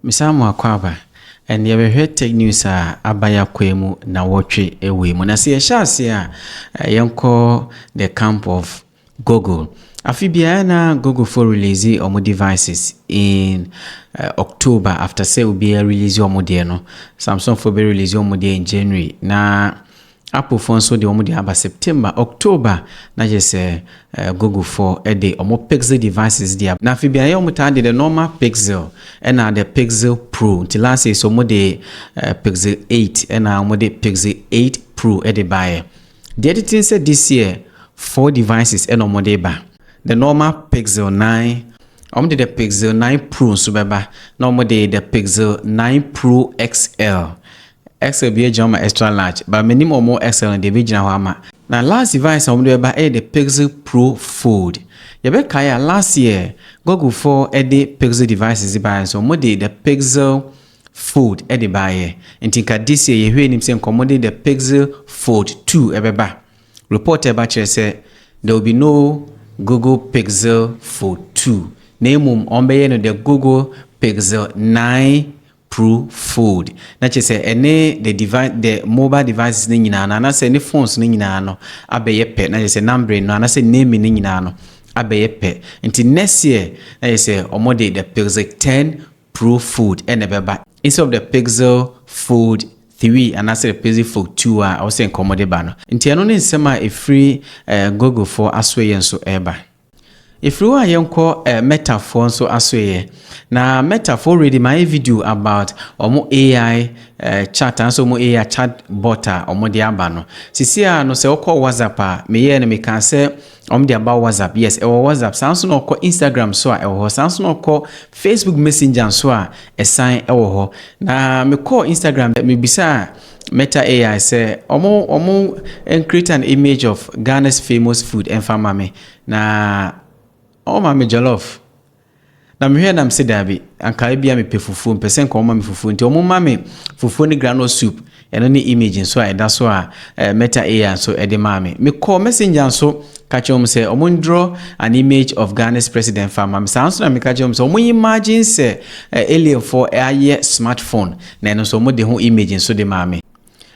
Ms Amoah-Kwaba, And yɛbɛhwɛ Tech News a aba Yakoe mu nawɔtwe wei mu. Na sɛ yɛhyɛ aseɛ a, yɛnkɔ the camp of Google. Afe biara na Googlefoɔ release wɔn devices in October after sɛ obiara release wɔn deɛ no. Samsungfoɔ bɛ release wɔn deɛ in January na Apple foɔ nso deɛ wɔn deɛ aba September, October na kyerɛ sɛ Google foɔ de wɔn Pixel devices deɛ aba. Na afei beaeɛ wɔn taa de the normal Pixel ɛna the Pixel Pro nti last year so wɔn de Pixel 8 ɛna wɔn de Pixel 8 Pro de baeɛ. Deɛ tete nsɛ this year four devices ɛna wɔn de ba the normal Pixel 9 wɔn de the Pixel 9 Pro nso bɛba na wɔn de the Pixel 9 Pro XL Excel bi agyina hɔ ma extra large but menim ɔmo excel no deɛ bɛgyina hɔ ama. Na last device a wɔde bɛba ɛyɛ the pixel pro fold. Yɛbɛkae a last year Google foɔ ɛde pixel devices de baeɛ nso wɔn de the pixel fold ɛde baeɛ. Nti nka this year yɛhwɛ anim sɛ nka wɔn de the pixel fold two ɛbɛba. Report a ɛba kyerɛ sɛ there will be no Google pixel fold two na mmom wɔn bɛyɛ no the Google pixel nine Pro Fold, na kyerɛ sɛ ɛne the device the mobile devices no nyinaa no anasɛ ɛne phones no nyinaa no abɛyɛ pɛ, na kyerɛ sɛ numbering no anasɛ naming no nyinaa no abɛyɛ pɛ. Nti next year na kyerɛ sɛ wɔn de the Pixel 10 Pro Fold na ɛbɛba instead of the Pixel Fold 3 anasɛ the Pixel Fold 2 a ɛwɔ sɛ nka wɔn de ba no. Nti ɛno ne nsɛm a ɛfiri Googlefoɔ asoɛeɛ nso ɛreba. Efiri hɔ a yɛnkɔ eh, Meta foɔ nso asoeɛ. Na Meta foɔ already mayɛ video about ɔmo AI eh, chat anaasɛ ɔmo AI chat bot a ɔmo de aba no. Sisi a no sɛ wokɔ WhatsApp a, meyɛɛ no mekaa sɛ ɔmo de aba WhatsApp, yes ɛwɔ WhatsApp. Saa nso na ɔkɔ Instagram so a ɛwɔ hɔ. Saa nso na ɔkɔ Facebook Messenger nso a ɛsan ɛwɔ hɔ. Na mekɔɔ Instagram, mebisaa Meta AI sɛ ɔmo ɔmo encreate an image of Ghana's famous food ɛnfa mma me na ɔmo ma me jollof na mehwɛ na mese daabi anka ebia mepɛ fufuo mpɛ sɛ nka ɔmo ma me fufuo nti ɔmo ma me fufuo ne groundnut soup ɛno ne image nso a ɛda so a eh, Meta AI nso ɛde maa me mekɔ messenger nso ka kyerɛ wɔn sɛ ɔmo draw an image of Ghana's president fa ma me saa nso na meka kyerɛ wɔn sɛ ɔmo imagine sɛ eh, alienfoɔ ayɛ smartphone Na ɛno nso wɔde ho image nso de maa me.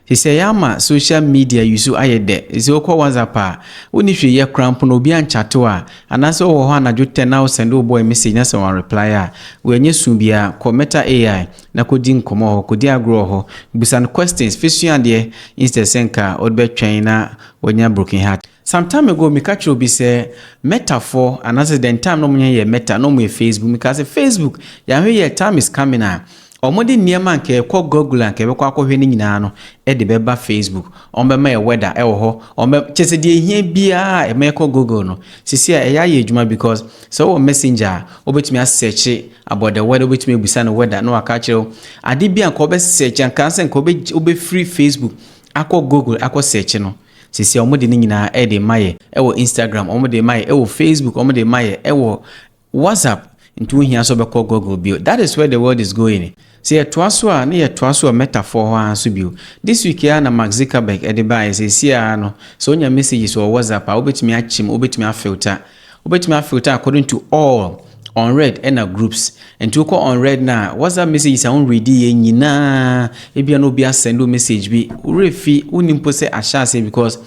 Sesɛ yɛama social media use ayɛ dɛ, sesɛ wokɔ WhatsApp a, wonni hwee yɛ koraa mpo na obi anchate wo a, anaasɛ wowɔ hɔ anadwo tɛ na wo sɛnde wo boy message na sɛ wanreply a, wei ɛnyɛ su biara, kɔ Meta AI na kɔdi nkɔmmɔ wɔ hɔ, kɔdi agorɔ wɔ hɔ, busa no questions, fesua adeɛ instead sɛ nka wode bɛtwɛn na wanya broken heart. Some time ago meka kyerɛ obi sɛ Meta foɔ anaasɛ the time na ɔmo nyɛ yɛ Meta na ɔmo yɛ Facebook mekaa sɛ Facebook yɛanhwɛ yie a time is coming a ɔmo de nneɛma a nka ɛkɔ Google a nka yɛbɛkɔ akɔhwɛ no nyinaa no de bɛba Facebook ɔmo bɛma yɛ weather ɛwɔ hɔ ɔmo bɛ kyɛ sɛ deɛ ehia biara a ɛma ɛkɔ Google no sisi a ɛyɛ ayɛ adwuma because sɛ wowɔ messenger a wobɛtumi asɛkye about the weather wobɛtumi abisa no weather na waka akyerɛ wo ade bi a nka wobɛsɛkye anka sɛ nka wobɛfiri Facebook akɔ Google akɔ sɛkye no Seesei wɔde ne nyinaa ɛde rema yɛ ɛwɔ Instagram, wɔde rema yɛ ɛwɔ Facebook, wɔde rema yɛ ɛwɔ WhatsApp. Nti wohia sɛ wobɛkɔ Google bio. That is where the world is going. Sɛ yɛtoa so a, na yɛtoa so wɔ Meta foɔ hɔ ara nso bio. This week ara na Mark Zuckerberg ɛde baeɛ, seesei ara no, sɛ wonya messages wɔ WhatsApp a, wobɛtumi akyem, wobɛtumi afilter. Wobɛtumi a filter according to all, unread ɛna groups. Nti wokɔ unread no a WhatsApp messages a wo read yɛ nyinaa ebia na obi asend wo message bi worɛ fi wonni mpo sɛ ahyɛ aseɛ because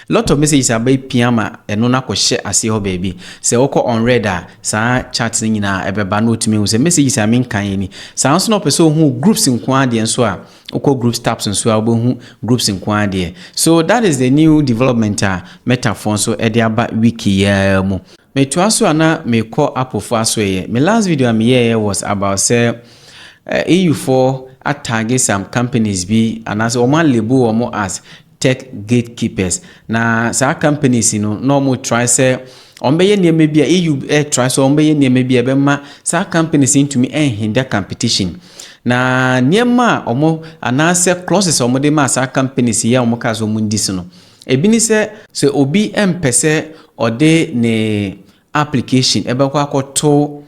lot of messages aba pia ma ɛno no akɔ hyɛ aseɛ hɔ baabi. Sɛ wokɔ unread a saa chat no nyinaa ɛbɛba na otumi hu sɛ messages a menkan yɛ ni. Saa nso na ɔpɛ sɛ ohuu groups nkoaa deɛ nso a Wokɔ groups tabs nso a wobɛhu groups nko ara deɛ. So that is the new development a Metafoɔ nso de aba wiki yi ara mu. Metoa so a na mekɔ Apple foɔ asoɛeɛ. Me last video a meyɛeɛ was about sɛ EU foɔ atagge some companies bi anaasɛ wɔn alabel wɔn as tech gatekeepers, na saa companies yi no na wɔn try sɛ wɔn bɛyɛ nneɛma bi a EU try sɛ wɔn bɛyɛ nneɛma bi a ɛbɛma saa companies yi ntumi nhinda competition. Na nneɛma a wɔn anaasɛ clauses a wɔde maa saa companies yi a wɔn kaa sɛ wɔn di so no, ebi ne sɛ, sɛ obi mpɛ sɛ ɔde ne application ɛbɛkɔ akɔto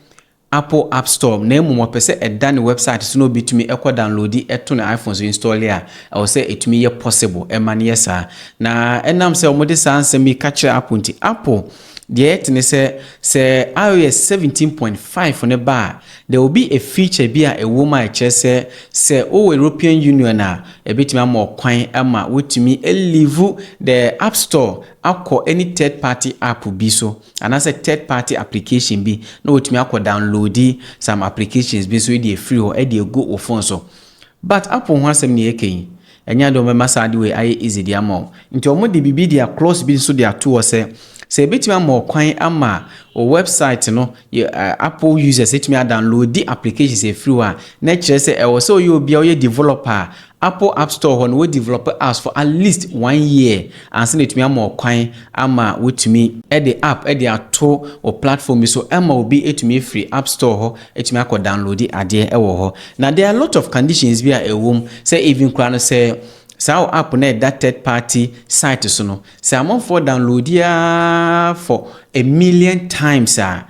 Apple App Store na mmom ɔpɛ sɛ ɛda ne wɛbsaet so na obetumi ɛkɔ danlodi ɛto ne iPhone so installe a, ɛwɔ sɛ ɛtumi yɛ possible ɛma no yɛ saa. Na ɛnam sɛ wɔn de saa nsɛm yi ka kyerɛ Apple nti, Apple deɛ ɛte ne sɛ, sɛ iOS seventeen point five no ba a, there will be a feature bi a ɛwɔ mu a ɛkyerɛ sɛ, sɛ wowɔ European Union a, ɛbetumi ama wo kwan ma woatumi a leave the App Store akɔ any third party app bi so. Anaasɛ third party application bi na watumi akɔ downloadi some applications bi nso de afiri hɔ de agu wo phone so. But Apple ho asɛm na yɛreka yi, ɛnyɛ ade a wɔbɛma saa ade wei ayɛ easy de ama wo. Nti wɔde biribi de a clause bi nso de ato hɔ sɛ, sɛ ɛbɛtumi ama wo kwan ama wo website no, Apple users atumi a downloadi applications afiri hɔ a, na ɛkyerɛ sɛ ɛwɔ sɛ ɔyɛ obi a ɔyɛ developer a Apple App Store hɔ no, wo develop apps for at least one year ansa na atumi ama wo kwan ama woatumi de app de ato wo platform bi so ma obi atumi afiri App Store hɔ atumi akɔ downloadi adeɛ wɔ hɔ. Na there are a lot of conditions bi a ɛwɔ mu sɛ even koraa no sɛ saa wo app no a ɛda third party site so no, sɛ amanfoɔ downloadi ara for a million times a,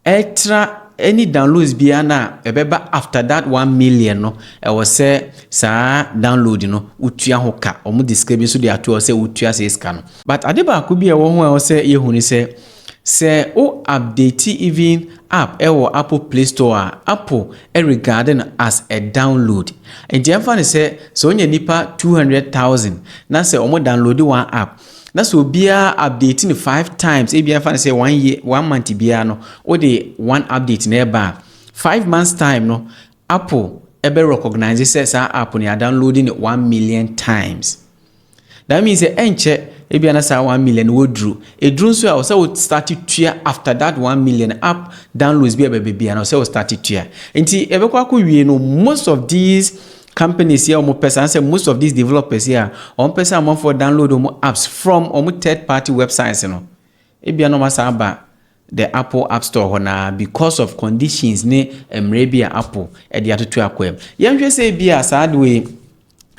Ɛtra any downloads biara no a ɛbɛba after that one million no ɛwɔ sɛ saa download no wotua ho ka. Wɔn de sika bi nso de ato hɔ sɛ wotua saa sika no. But ade baako bi a ɛwɔ ho a ɛwɔ sɛ yɛhu ne sɛ, sɛ wo update even app wɔ Apple play store a, Apple regard no as a download. Nti ɛmfa no sɛ, sɛ wonya nnipa two hundred thousand na sɛ wɔn download one app na sɛ obiara update no five times ebi afa no sɛ one year one month biara no wode one update na ɛba a five months time no apple ɛbɛ recognize sɛ saa app no yɛadownload no one million times that means sɛ ɛnkyɛ ebi na saa one million no wɔduru ɛduru nso a ɔsɛ wo start tua after that one million app downloads bi a ɛbɛbɛ bia na ɔsɛ wo start tua nti ɛbɛkɔ akɔ wie no most of these Companies yi a wɔpɛ saa sɛ most of these developers yi a wɔpɛ sɛ amanfoɔ download wɔn apps from wɔn third party websites no, ebia na wɔasan aba the Apple app store hɔ naa because of conditions ne mmerɛ bi a Apple de atoto akwam. Yɛnhwɛ sɛ ebia saa adeɛ yi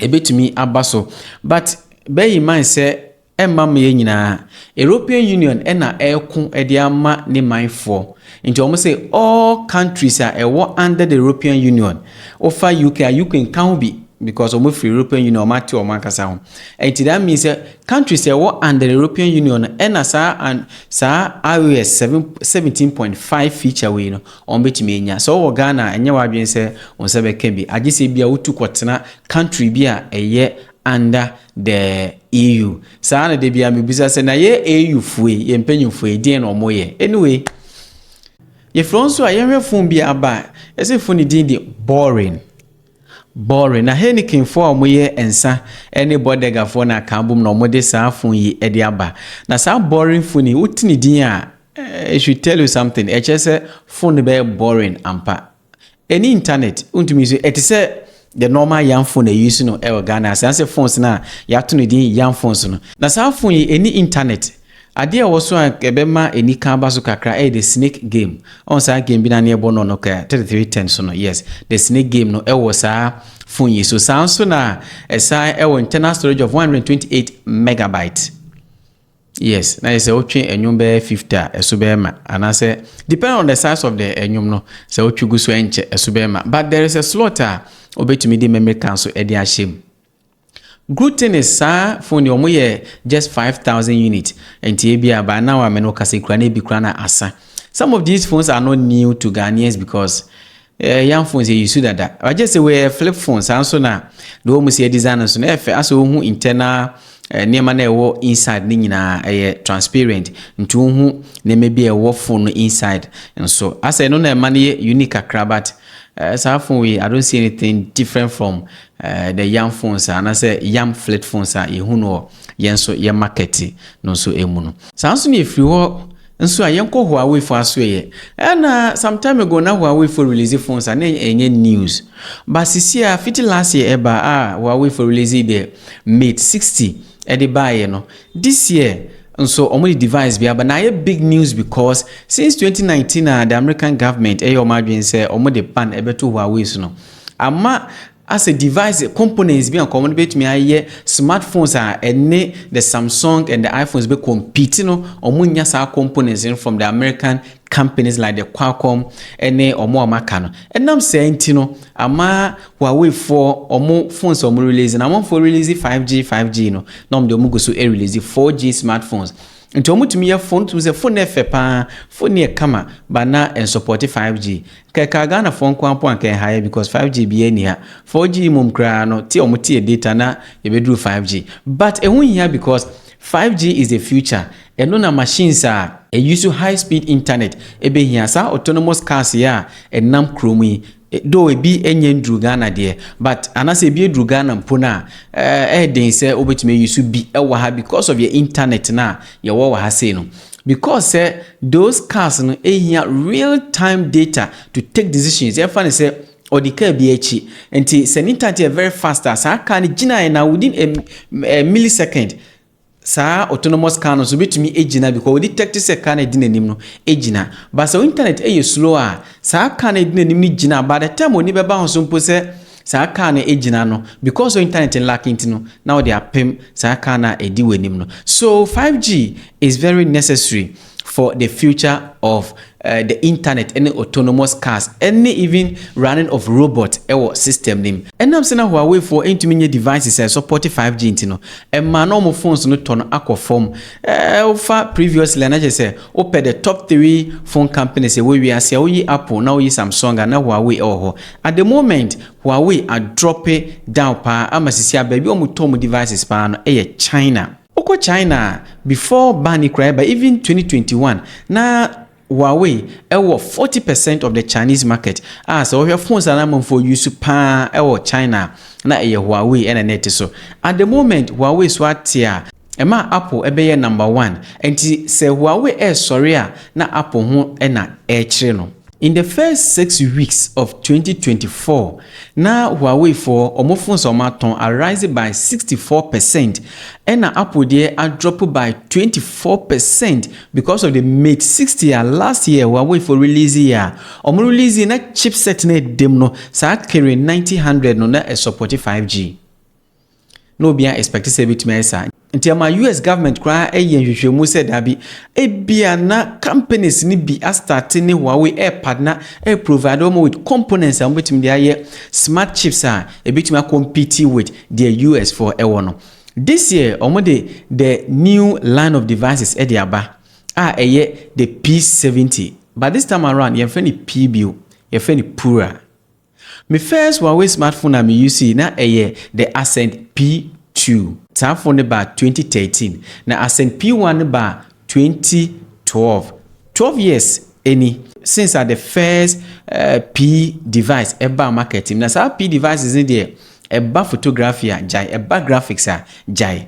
ɛbɛtumi aba so but bear in mind sɛ Ɛmma meyɛ nyinaa. European Union na ɛreko de ama ne manfoɔ. Nti wɔn se all countries a ɛwɔ under the European Union, wofa UK a, UK nka ho bi because wɔn firi European Union, wɔn ate wɔn ankasa ho. Nti that means sɛ countries a ɛwɔ under the European Union no ɛna saa an saa IOS seven seventeen point five feature wei no wɔn bɛtumi anya. Sɛ wɔwɔ Ghana a, ɛnyɛ w'adwene sɛ wo nsa bɛka bi. Agye sɛ ebia wotu kɔtena country bi a ɛyɛ under The EU. Saa na da biara mebisa sɛ, na yɛ EU foe, yɛ mpanyimfoɔ yi, deɛn na ɔmo yɛ? Anyway, yɛfrɛ nso a yɛnhwɛ fon bi aba a, ɛsɛ fon ne din de Boring. Boring. Na Heinekenfoɔ a ɔmo yɛ nsa ɛne Bodegafoɔ na aka abom na ɔmo de saa fon yi ɛde aba. Na saa Boring fon yi, wote ne din a, it should tell you something. Ɛkyerɛ sɛ fon no bɛyɛ boring ampa. Ɛnni internet, wontumi nso, ɛte sɛ the normal yam phone a yɛuse no ɛwɔ Ghana ase, anaasɛ phones no a yɛato no din yam phones no. Na saa phone yi ɛnni internet. Adeɛ a ɛwɔ so a ɛbɛma anika aba so kakra ɛyɛ the snake game. Ɔn saa game bi na ne ɛbɔ no no kɛ 3310 so no, yes, the snake game no ɛwɔ saa phone yi so. Saa nso na ɛsan ɛwɔ internal storage of 128 megabyte. Yes na yɛ sɛ wotwe ɛnwom bɛyɛ fifty a ɛso bɛyɛ ma anaasɛ depend on the size of the ɛnwom no sɛ wotwe gu so ɛnkyɛ ɛso bɛyɛ ma but there is a slot a obetumi de memory card so ɛde ahyɛ mu. Good thing is saa phone deɛ wɔn yɛ just five thousand unit nti ebi a by now a mene okasa kura na ebi kura na asa. Some of these phones are not new to Ghanaians because Eh yan phones yɛ use dada but just sɛ wɔyɛ flip phone saa nso na the wɔn si design nso na ɛfɛ asɛ wɔhu internal eh, nneɛma na ɛwɔ inside ne nyinaa ɛyɛ transparent nti wɔhu nneɛma bi a ɛwɔ phone no inside nso asɛ ɛno na ɛma no yɛ unique kakra but eh, saa phone yi I don't see anything different from eh, the yam phones a anasɛ yam flip phones a yɛhu no wɔ yɛn nso yɛ market no nso ɛmu no saa nso na ɛfiri hɔ Nso a yɛnkɔ Huawei fo asoɛ yɛ. Ɛna some time ago na Huawei fo release phones a na ɛnyɛ news. But sisi a fiti last year ɛba a Huawei fo release the Mate 60 ɛde baeɛ no, this year nso wɔn de device bi aba na ayɛ big news because since 2019 a the American government ɛyɛ wɔn adwene sɛ wɔn de ban ɛbɛto Huawei so no, ama Asɛ device components bi a nka wɔn bɛtumi ayɛ smart phones a ɛne the Samsung and the iPhones bɛ compete no, wɔn nya saa components no from the American companies like the Qualcomm ɛne wɔn a wɔn aka no. Ɛnam saa nti no, ama Huawei foɔ wɔn phones a wɔn release no, amanfoɔ release 5G, 5G no, na wɔn de wɔn gu so release 4G smart phones. Nti wɔn tumi yɛ phone, tumi sɛ phone no yɛ fɛ paa, phone no yɛ kama, ba na ɛnsupporte 5G. Kɛ kaa Ghana foɔ nkoaa mpo anka ɛha yɛ because 5G biaa nni ha. 4G mmom koraa no te ɔmo teɛ data na yɛbɛduru 5G. But ɛho nhia because 5G is the future. Ɛno na machines a. Ɛuse high speed internet ɛbɛhia. Saa autonomous cars yi a ɛnam kuro mu yi, though ɛbi nyɛ nduru Ghana deɛ, but anaasɛ ɛbi ɛduru Ghana mpo no a, ɛɛden sɛ wobɛtumi ause bi wɔ ha because of yɛ internet no a yɛwɔ wɔ ha sei no. Because sɛ those cars no hia real time data to take decisions, yɛmfa no sɛ ɔdi car bi akyi, nti sɛ ne ntante yɛ very fast a, saa car no gyinaeɛ na within a, a millisecond, saa autonomous car no nso bɛtumi agyina because ɔdi tɛkte sɛ car no adi n'anim no agyina. But sɛ internet yɛ slow a, saa car no adi n'anim no gyina by the time ɔni bɛba ho so mpo sɛ saa car no agyina no because internet lack nti no na wode apem saa car no a ɛdi w'anim no so 5G is very necessary for the future of uh, the internet ɛne autonomous cars ɛne even running of robot ɛwɔ system no mu ɛnam sɛ na Huawei foɔ ɛntumi nyɛ devices a support 5G nti no ɛma na wɔn phones no tɔ no akɔ fam ɛɛ wofa previously a na kyerɛ sɛ wopɛ the top three phone companies ɛwɔ wiase a woyi Apple na woyi Samsung a na Huawei ɛwɔ hɔ At the moment, Huawei adrɔpe down paa ama sisi a baabi a wɔn tɔ wɔn devices paa no yɛ China. Wo kɔ China a, before ban yi koraa ɛba, even twenty twenty one, na Huawei wɔ forty percent of the Chinese market a sɛ wo hwɛ phones a na amanfoɔ use paa wɔ China a, na ɛyɛ Huawei na na ɛte so. At the moment, Huawei so ate a, Ɛmaa Apple bɛyɛɛ number one. Ɛnti sɛ Huawei ɛresɔre a na Apple ho na ɛrekyere no. In the first six weeks of twenty twenty four, na Huawei foɔ wɔn phones a wɔn atɔn a rise by sixty four percent ɛna Apple deɛ a drop by twenty four percent because of the Mate sixty a last year Huawei foɔ release yɛ a wɔn release yɛ na chipset no a ɛdam no saa Kirin ninety hundred no na ɛsupporte five G. na obiara expect sɛ ebetumi ayɛ saa. Nti ɛma US government koraa yɛ nhwehwɛmu sɛ daabi, ebia na companies no bi astarte ne Huawei ɛrepadna ɛreprovide wɔn with components a wɔbetumi de ayɛ smart chips a ebetumi akɔmpiti with deɛ US foɔ ɛwɔ no. This year wɔde the new line of devices ɛde aba a ɛyɛ the P70 but this time around yɛnfrɛ no P bio, yɛfrɛ no Pura. Me first Huawei smartphone a me usee na ɛyɛ the Ascend P2. Saa phone no baa twenty thirteen na Ascend P1 no baa twenty twelve. Twelve years ni since a the first P device ɛbaa market mu na saa P devices no deɛ ɛba photography a gyae, ɛba graphics a gyae.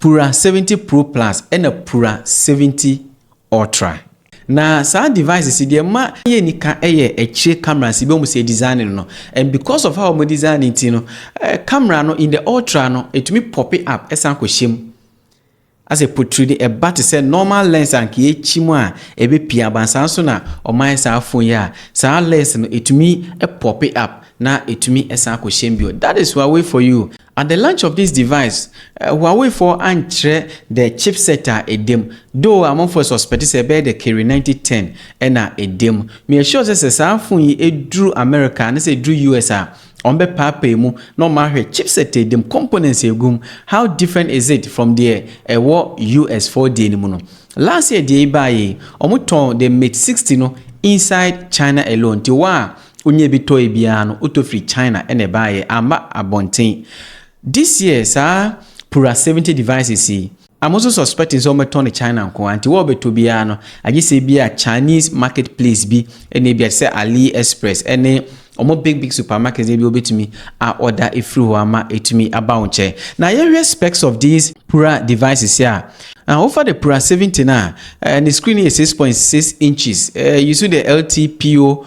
Pura 70 Pro Plus ɛna Pura 70 Ultra. Na saa devices yi deɛ ma yɛ nika ɛyɛ akyire cameras yi bɛhu sɛ yɛ design no no and because of how wɔn design no nti no camera no in the ultra no ɛtumi pope up ɛsan kɔ hyɛ mu asɛ potri de ɛba te sɛ normal lens a nka yɛkyi mu a ɛbɛ pia aba saa nso na wɔn ayɛ saa phone yi a saa lens no ɛtumi pope up na ɛtumi ɛsan kɔ hyɛ mu bio that is Huawei for you At the launch of this device, Huawei foɔ ankyerɛ the chipset a ɛda mu, though amanfoɔ suspect sɛ ɛbɛyɛ the Kirin ninety ten na ɛda mu. Me assure sɛ sɛ saa phone yi duru America anaasɛ ɛduru US a, wɔn bɛ paapae mu na wɔn ahwɛ chipset a ɛda mu, components a ɛgu mu, how different is it from deɛ ɛwɔ US foɔ deɛ no mu no. Last year deɛ yi baeɛ yi, wɔn tɔn the Mate sixty no inside China alone, nti waa Onyaa bi tɔe biara no otɔ firi China na ɛbaeɛ, amma abɔnten. This year saa Pura 70 devices yi, a mo nso suspecting sɛ wɔbɛtɔ no China nko ara nti, wɔrebɛtɔ biara no, agye sɛ ebia Chinese market place bi ne ebia te sɛ Ali Express ne wɔn big big supermarkets no bi wɔbɛtumi a order afiri hɔ ama atumi aba wo nkyɛn. Na yɛnhwɛ specs of these Pura devices a, ah, wofa the Pura 70 no a, eh, ne screen no yɛ 6.6 inches, eh, use the LTPO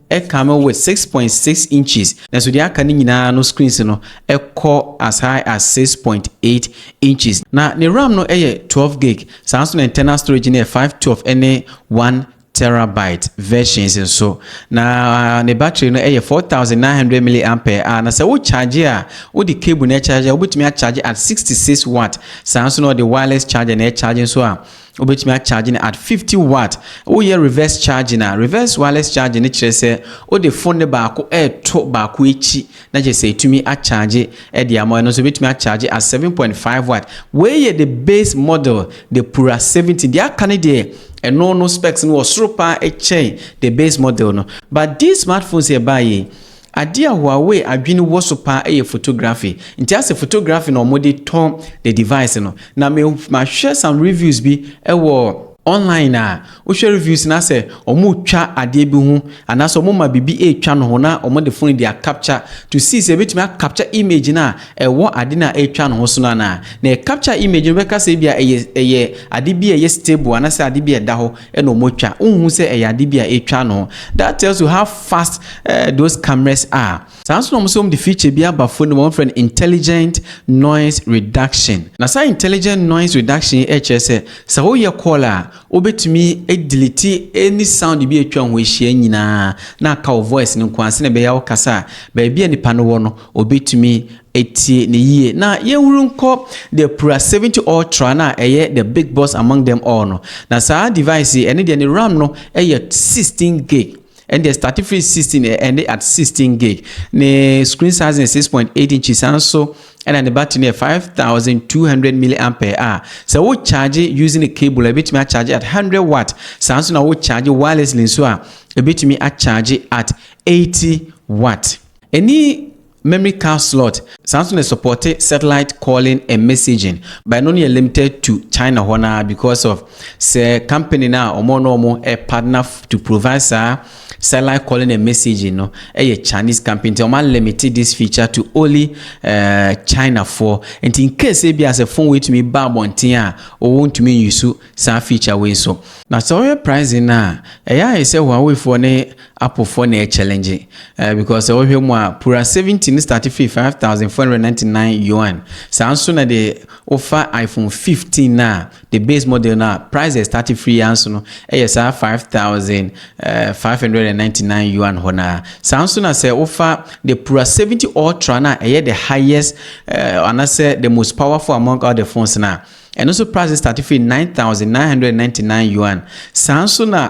Ɛka no wɔ six point six inches, nanso deɛ aka no nyinaa no screens no kɔ as high as six point eight inches. Na ne ram no yɛ twelve gig, saa ara nso na internal storage no yɛ five twelve ɛne one terabyte versions nso. Na ne battery no yɛ four thousand nine hundred milliampere a, na sɛ wo charge a, wode cable na ɛcharge a, wobɛtumi acharge at sixty six watt. Saa ara nso na ɔde wireless charger na ɛcharge nso a, Wobɛtumi akyagye no at 50 watt. Woyɛ reverse charging a, reverse wireless charging no kyerɛ sɛ wode phone no baako reto baako akyi na kyerɛ sɛ ɛtumi akyagye de ama. Ɛno nso wobɛtumi akyagye at 7.5 watt. Wei yɛ the base model, the Pura 17. Deɛ aka no deɛ ɛno no specs no wɔ soro paa kyɛn the base model no. But these smartphones a ɛbaeɛ yi, Adeɛ a Huawei adwene wɔ so paa yɛ photography, nti asɛ photography na wɔde tɔ the device no. Na me mahwɛ some reviews bi wɔ online a, wohwɛ reviews no asɛ wɔretwa adeɛ bi ho anaasɛ wɔma biribi retwa no ho na wɔde phone de acapture to see sɛ ɛbɛtumi a capture image no a ɛwɔ ade no a ɛretwa no ho so no anaa. Na ɛ capture image no bɛka sɛ ebia ɛyɛ ɛyɛ ade bi a ɛyɛ stable anaasɛ ade bi a ɛda hɔ. ɛna wɔn twa wohu sɛ ɛyɛ ade bi a etwa no that tells you how fast uh, those cameras are saa nso na wɔn sɛ wɔn de feature bi aba phone no wɔn frɛ no intelligent noise reduction na saa intelligent noise reduction yi ɛkyerɛ sɛ sɛ woyɛ call a wobɛtumi delete any sound bi atwa ho ahyia nyinaa na aka wo voice no nko ase na ɛbɛyɛ wokasa a baabi a nipa no wɔ no obɛtumi Tie no yie, na yɛnhuru nkɔ the Pura 70 Ultra no a ɛyɛ the big boss among them all no. Na saa device yi, ɛno deɛ ne ram no yɛ 16 gig. Ɛno deɛ start firi 16 ɛ- ɛnde at 16 gig. Ne screen size no yɛ 6.8 inches, saa nso ɛna ne battery no yɛ 5200 milliampere a sɛ wo charge using a cable a ɛbɛtumi acharge at 100 watt, saa nso na wo charge wirelessly nso a ɛbɛtumi acharge at 80 watt. Ɛni Memory card slot san nso na supporte satellite calling and messaging but ɛno no yɛ limited to China hɔ no ara because of sɛ company no a wɔn na wɔn partner to provide saa satellite calling and messaging no yɛ Chinese company nti wɔn alimite this feature to only uh, China foɔ nti in case ebi a sɛ phone wei tumi ba abɔnten a wɔn ntumi nyusu saa feature wei so. Na sɛ wɔyɛ pricing no a ɛyɛ ayɛ sɛ Huawei foɔ ne Apple foɔ na ɛkyɛlɛngye eh, because sɛ wohwɛ mu a Pura 17 no starte firi 5499 yuan, saa nso na deɛ wofa iPhone 15 no a the base model no a price deɛ starte firi ya nso no ɛyɛ saa 5599 yuan hɔ naa. Saa nso na sɛ wofa the Pura 70 Ultra no a ɛyɛ the highest eh, anasɛ the most powerful among all the phones no a ɛno nso price starte firi 9999 yuan. Saa nso na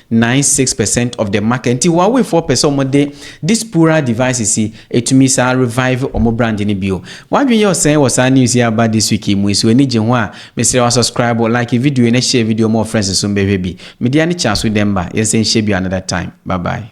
Ninety six percent of the market nti Huawei foɔ pɛ sɛ ɔmo de this poorer devices yi ɛtumi saa revive ɔmo brand no bio. W'adwene yɛ ɔsɛn wɔ saa news yi a aba this week yi mu yi so w'ani gye ho a mesrɛ wo subscribe, like video yi na share video yi ma wo friends nso mbɛhwɛ bi. Media ne Charles Udemba, yɛnsan nhyia bio another time. Bye bye.